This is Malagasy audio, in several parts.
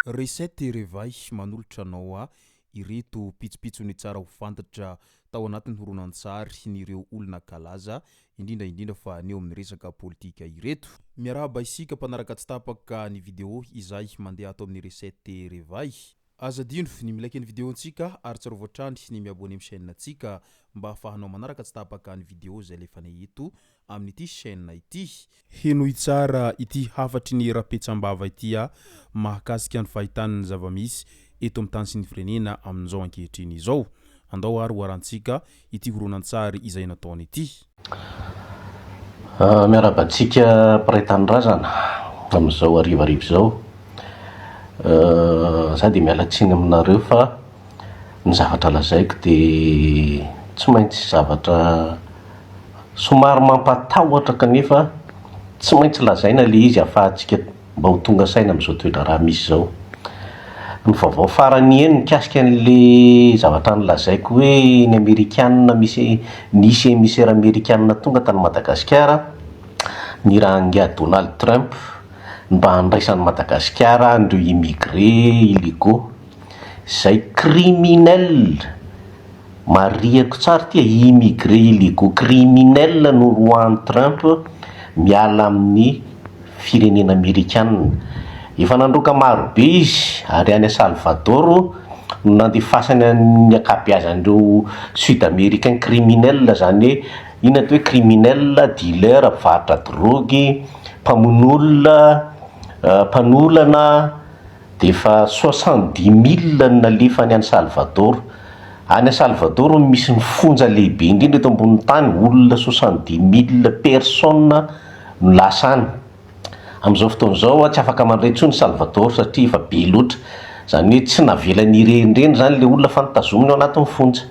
Recette Revay manolotra anao a ireto pitsopitsony tsara ho fantatra tao anatin'ny horonantsary n'ireo olona kalaza indrindra indrindra fa ny eo amin'ny resaka politika ireto. Miarahaba isika mpanaraka tsy tapaka ny video izay mandeha ato amin'ny Recette Revay. Aza adino ny mi-like ny video ntsika ary tsarovy hatrany ny mi-abonner am chaîne ntsika mba ahafahanao manaraka tsy tapaka ny video izay alefanay eto amin'ity chaîne ity. Henoy tsara ity hafatry ny rapetsam-bava ity a! mahakasika ny fahitana ny zava-misy eto amin'ny tany sy ny firenena amin'izao ankehitriny izao. Andao ary hoarantsika ity horonantsary izay nataony ity. Miarahaba antsika mpiray tanindrazana amin'izao harivariva izao. Za dia miala tsiny aminareo fa ny zavatra lazaiko dia tsy maintsy zavatra somary mampatahotra kanefa tsy maintsy lazaina ilay izy afahantsika mba ho tonga saina amin'izao toedraharaha misy izao. Ny vaovao farany eny mikasika an'le zavatra nolazaiko hoe ny amerikana misy nisy emisera amerikana tonga tany Madagasikara nirahan'ingahy Donald Trump mba handraisan'i Madagasikara an'ireo immigré illégaux izay criminels marihiko tsara ity e, immigré illégaux criminels no noroahan'i Trump miala amin'ny firenena amerikanina. Efa nandroaka maro be izy ary any Salvador no nandefasany ny ankabeazan'ireo sud-americains criminels, izany hoe inona atao hoe criminels, dealers, mpivarotra drogue, mpamono olona, mpanolana, dia efa soixante dix milles no nalefany any Salvador. Any Salvador no misy ny fonja lehibe indrindra eto ambonin'ny tany, olona soixante dix milles personnes. no lasa any. Amin'izao fotoana izao tsy afaka mandray intsony i Salvador satria efa be loatra. Izany hoe tsy navelany hirenireny izany ilay olona fa notazominy ao anatin'ny fonja.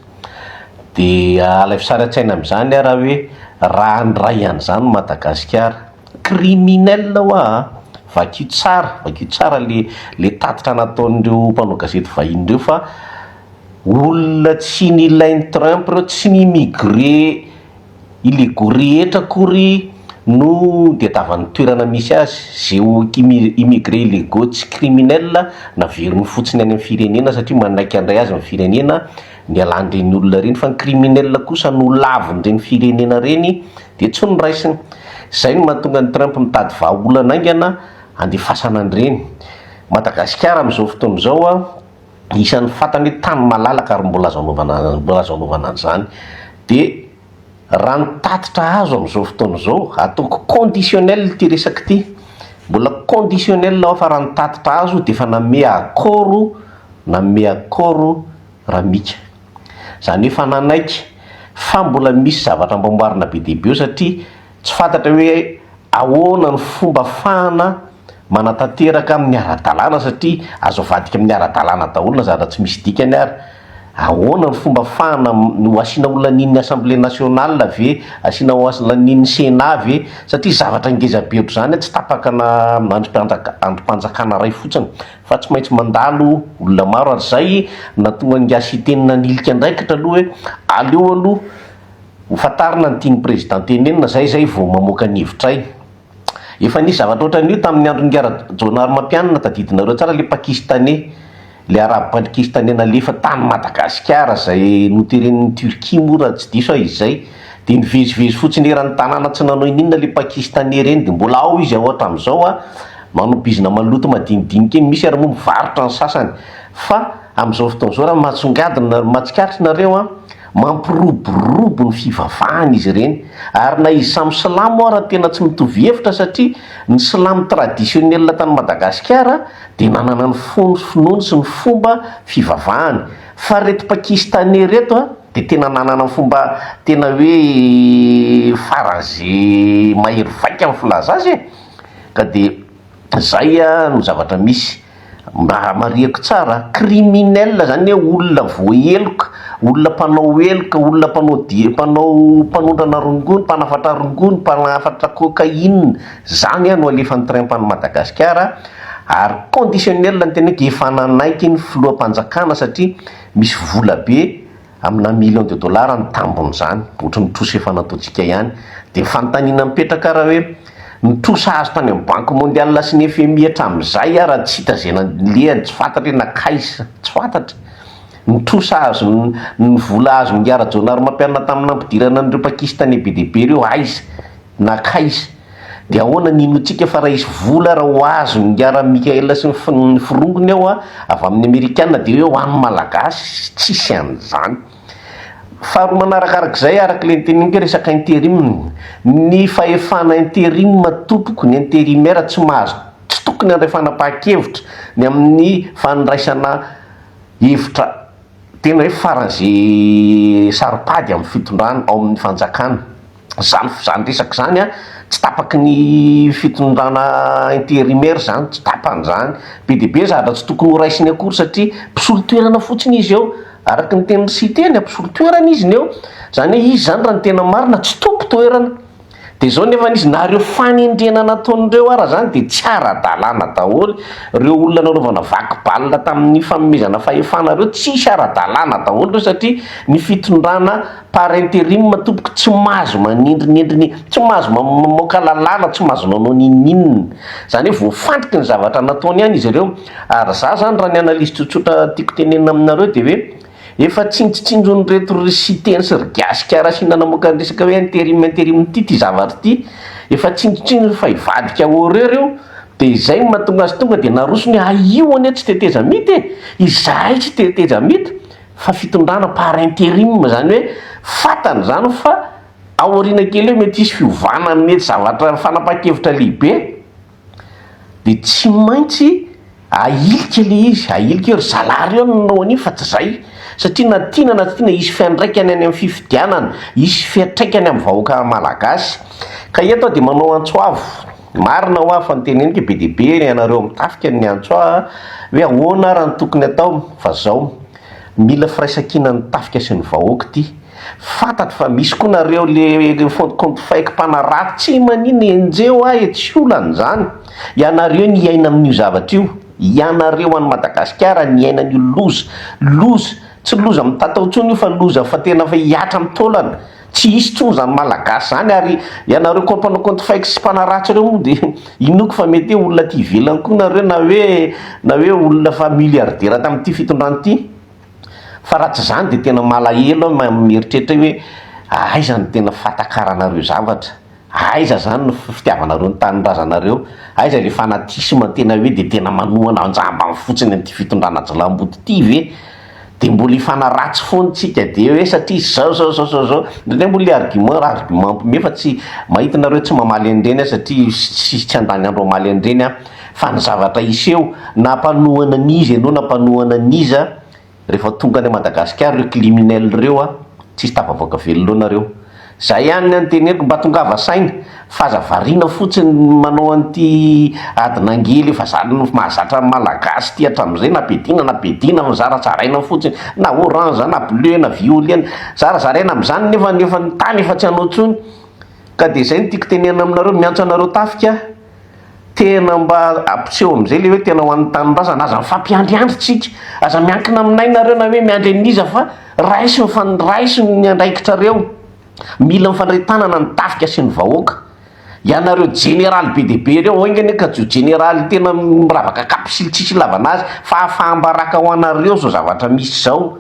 Dia alaivo sary an-tsaina amin'izany aho raha hoe raha handray an'izany i Madagasikara. Criminel ho'a a! Vakio tsara, vakio tsara ilay tatitra nataon'ireo mpanao gazety vahiny ireo fa olona tsy nilain'i Trump ireo, tsy ni-migrer. I Legory rehetra akory no diadavan'ny toerana misy azy. Zeo ki immigré illegaux tsy criminel naveriny fotsiny any amin'ny firenena satria manaiky handray azy ny firenena nialan'ireny olona ireny fa ny criminel kosa nolavin'ireny firenena ireny dia tsy noraisiny. Izay no mahatonga an'i Trump mitady vahaolana haingana handefasana an'ireny. Madagasikara amin'izao fotoana izao a. isan'ny fantany hoe tany malalaka ary mbola azo anaovana mbola azo anaovana an'izany dia raha ny tatitra azo amin'izao fotoana izao, ataoko conditionnel ity resaka ity, mbola conditionnel aho fa raha ny tatitra azo dia efa nanome accord nanome accord Ramika, izany hoe efa nanaiky fa mbola misy zavatra amboaboarina be dia be eo satria. Tsy fantatra hoe ahoana ny fomba afahana manatanteraka amin'ny ara-dalàna satria azo avadika amin'ny ara-dalàna daholo na zatra tsy misy dikany ary. Ahoana ny fomba afahana, ho asiana ho lanian'ny Assemblée nationale ve, asiana ho lanian'ny Sénat ve satria zavatra ngeza be ohatr'izany tsy tapaka na andrim-panjaka, andrim-panjakana iray fotsiny fa tsy maintsy mandalo olona maro ary izay nahatonga an'i Gasy Hiteny nanilika andraikitra aloha hoe aleo aloha Ho fantarina ny tian'ny Président tenenina zay zay vao mamoaka ny hevitray. Efa nisy zavatra otran'io tamin'ny andron'i Ngara Jônarimampianina tadidinareo tsara le Pakistanais le Arabo Pankistanais nalefa tany Madagasikara zay noteren'ny Turquie moa raha tsy diso aho izay de nivezivezy fotsiny eran'ny tanàna tsy nanao ininona le Pakistanais reny de mbola ao izy ao hatramizao a manao bizina maloto madinidinika eny misy ary moa mivarotra ny sasany fa amizao fotoan'izao raha matsongadina matsikaritra nareo a Mampiroborobo ny fivavahana izy ireny, ary na izy samy silamo ara tena tsy mitovy hevitra satria ny silamo tradisionnel tany Madagasikara dia nanana ny fony sy finoany sy ny fomba fivavahany fa ireto pakistanais ireto a dia tena nanana ny fomba tena hoe faraze mahery vaika ny filaza azy e! ka dia De zay no zavatra misy. Mba hamarihako tsara, criminel zany hoe olona voaheloka, olona mpanao heloka, olona mpanao dia mpanao mpanondrana rongony, mpanafatra rongony, mpanafatra cocaïne, zany no alefan'ny train pan'i Madagasikara ary conditionnel ny teneniko efa nanaiky ny filoham-panjakana satria misy vola be, Amina millions de dollars ny tambin'izany, ohatry ny trosa efa nataontsika ihany. Dia fanontaniana mipetraka raha hoe ny trosa azo tany amin'ny Banque mondiale sy ny FMI hatramin'izay ary tsy hita izay nanilihany, tsy fantatra hoe nankaiza, tsy fantatra. Ny trosa azo, ny vola azon'i Rajaonarimampianina tamin'ny nampidirana an'ireo Pakistanais be dia be ireo aiza, nankaiza. Dia ahoana ny hinoantsika fa raisy vola raha ho azony ngiaran'i Michael sy ny forongony ao a, avy amin'ny Amerikana dia hoe ho an'ny Malagasy? Tsisy an'izany. Faharoa manarakarak'izay, araka ilay noteneniko hoe resaka interim, ny fahefana interim tompoko, ny intérimaire tsy mahazo, tsy tokony handray fanapahan-kevitra ny amin'ny fandraisana hevitra tena hoe faran'izay saro-pady amin'ny fitondrana ao amin'ny fanjakana. zany zany resaka zany an, tsy tapaky ny fitondrana intérimaire izany, tsy tapany izany, be dia be ny zavatra tsy tokony ho raisiny akory satria mpisolo toerana fotsiny izy eo, araka ny tenin'i Site ny mpisolo toerana izy ny eo, izany hoe izy izany raha ny tena marina tsy tompon-toerana, dia izao nefa izy, na ireo fanendrena nataon'ireo ara izany dia tsy ara-dalàna daholo, ireo olona nanaovana vaky balina tamin'ny fanomezana fahefana ireo tsisy ara-dalàna daholo ireo satria ny fitondrana Par interim tompoko tsy mahazo manindrinindriny tsy mahazo mamoaka lalàna tsy mahazo manao ninoninona izany hoe voafantriky ny zavatra nataony ihany izy ireo ary za zany raha ny analyse tsotsotra tiako tenenina aminareo dia hoe efa tsinjotsinjon'ireto ry siteny sy ry gasikara asiana namoaka ny resaka hoe interim interim ity ity zavatra ity efa tsinjotsinjony fa hivadika horreur io dia izay no mahatonga azy tonga dia naroso ny ah io anie tsy tetezamita e izahay tsy tetezamita fa fitondrana par interim izany hoe fantany izany fa ao aoriana kely eo mety hisy fiovana mety zavatra fanapahan-kevitra lehibe dia tsy maintsy ahilika ilay izy, ahilika eo ry zalahy reo nanao an'io fa tsy izay satria na tiana na tsy tiana hisy fiandraikany any amin'ny fifidianana, hisy fiatraikany amin'ny vahoaka malagasy ka eto aho dia manao antso avo. Marina hoa fa ny teneniko be dia be, ianareo amin'ny tafika no miantso ahy hoe ahoana ary ny tokony atao? Fa zao, mila firaisankinan'ny tafika sy ny vahoaka ity. Fantatro fa misy koa nareo le fond compte fake mpanarato, tsy manin enjeo ahy e, tsy olana izany. Ianareo ny hiaina amin'io zavatra io, ianareo any Madagasikara niaina an'io loza, loza, tsy loza mitatao intsony io fa loza fa tena fa hihatra amin'ny taolana. Tsy hisy tsony zany malagasy zany ary ianareo koa mpanao compte fake sy mpanaratsy reo moa dia inoako fa mety hoe olona aty ivelany koa nareo na hoe na hoe olona efa milliardaire tamin'ity fitondrana ity fa raha tsy zany dia tena malahelo aho mieritreritra hoe aiza no tena fatakaranareo zavatra Aiza izany ny fitiavanareo ny tanindrazanareo? Aiza ilay fanatisme tena hoe dia tena manohana an-jambany fotsiny an'ity fitondrana jilamboto ity ve? Dia mbola hifanaratsy foana isika dia hoe satria izao izao izao izao izao. Indraindray moa ilay argument argument mpiomehy fa tsy, mahita ianareo tsy mamaly an'ireny aho satria tsy tsy handany andro hamaly an'ireny aho fa ny zavatra hiseho na mpanohana an'iza ianao na mpanohana an'iza, rehefa tonga any Madagascar reo climinel reo a tsisy tafavoaka velona ao nareo zay ihany ny anteneniko mba tongava saina f'aza variana fotsiny ny manao an'ity ady nangely efa zany mahazatra ny malagasy ity hatramizay na bedina na bedina fa zara zaraina fotsiny na orange na bleu na violene zara zaraina amizany nefa ny efa ny tany efa tsy anao tsony ka de zay no tiko tenena aminareo miantso anareo tafika Tena mba ampiseho amin'izay ilay hoe tena ho an'ny tanindrazana. Aza mifampiandriandry tsika. Aza miankina aminay nareo na hoe miandry an'iza fa raiso ny fan, raiso ny andraikitrareo. Mila mifandray tanana ny tafika sy ny vahoaka. Ianareo jeneraly be dia be ireo enga anie ka jo jeneraly tena miravaka kapisily tsisy ilavana azy fa hafaham-baraka ho anareo izao zavatra misy izao.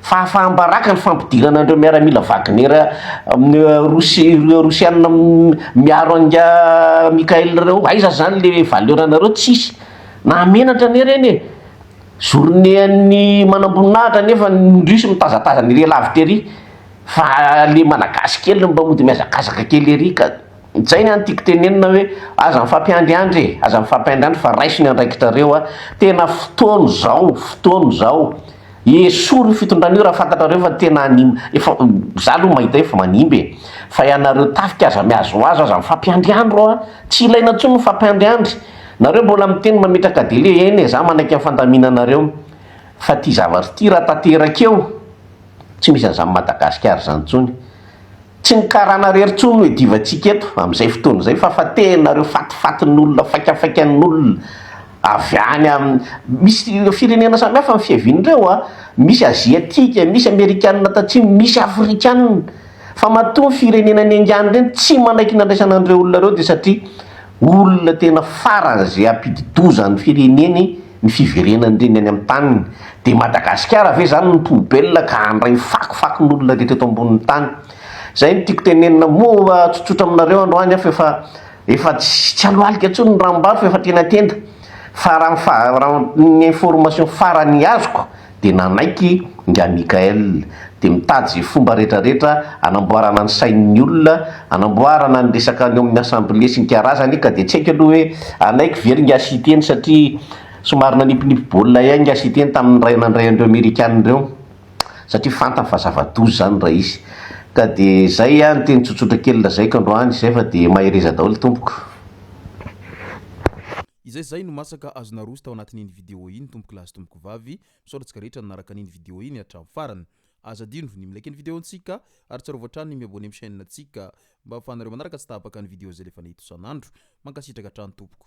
Fahafaham-baraka ny fampidirana an'ireo miaramila Wagner rosiana miaro an'i Mikhail ireo. Aiza izany ilay valeur nareo? Tsisy. Mahamenatra anie ireny e! Journée an'ny manamboninahitra nefa ny Russes mitazatazana ery lavitra ery fa ilay Malagasy kely no mba mody mihazakazaka kely ery ka. Izay ny an'ny tiako tenenina hoe aza mifampiandriandry e, aza mifampiandriandry fa raiso ny andraikitrareo a, tena fotoana izao, fotoana izao, esory io fitondrana io raha fantatrareo fa tena hanim, efa, za aloha mahita hoe efa manimba e, fa ianareo tafika aza mihazohazo, aza mifampiandriandry ô a, tsy ilaina intsony ny mifampiandriandry, nareo mbola miteny mametraka délai, eny e, za manaiky ny fandaminanareo, fa ity zavatra ity raha tanteraka eo, Tsy misy an'izany Madagascar izany intsony. Tsy ny karana irery intsony no iadivantsika eto amin'izay fotoana izay fa fa tenanareo fatifatin'olona, faikafaikan'olona avy any amin'ny, misy ireo firenena samihafa ny fiaviany ireo an! Misy Aziatika, misy Amerikana Tatsimo, misy Afrikana. Fa matoa ny firenena niaingany ireny tsy manaiky ny handraisana an'ireo olona ireo dia satria, Olona tena farany izay hampidi-doza ny fireneny ny fiverenan'ireny any amin'ny taniny. Dia Madagasikara ve izany no poubelle ka handray ny fako fakon'olona rehetra eto ambonin'ny tany? Izay no tiako tenenina moa tsotsotra aminareo androany aho fa efa tsy alohalika intsony ny ranombary fa efa tena tenda. Fa raha ny information farany azoko dia nanaiky nga Michael. Dia mitady izay fomba rehetra rehetra anamboarana ny sain'ny olona, anamboarana ny resaka any amin'ny assemblée sy ny karazany ka dia tsy haiko aloha hoe hanaiky ve ry nga Siteny satria somary nanipinipy baolina ihany nga Siteny tamin'ny ray nandray an'ireo amerikana ireo satria fantany fa zava-doza izany raha izy. Ka dia izay aho ny teny tsotsotra kely lazaiko androany izay fa dia mahereza daholo tompoko. Izay izay no masaka azo naroso tao anatin'iny vidéo iny tompokolahy sy tompokovavy, misaotra antsika rehetra nanaraka an'iny vidéo iny hatramin'ny farany. Aza adino ny mi-like ny vidéo ntsika ary tsarovy hatrany ny mi-abonner amin'ny chaîne ntsika mba ahafahanareo manaraka tsy tapaka ny vidéo izay alefana eto isan'andro. Mankasitraka hatrany tompoko.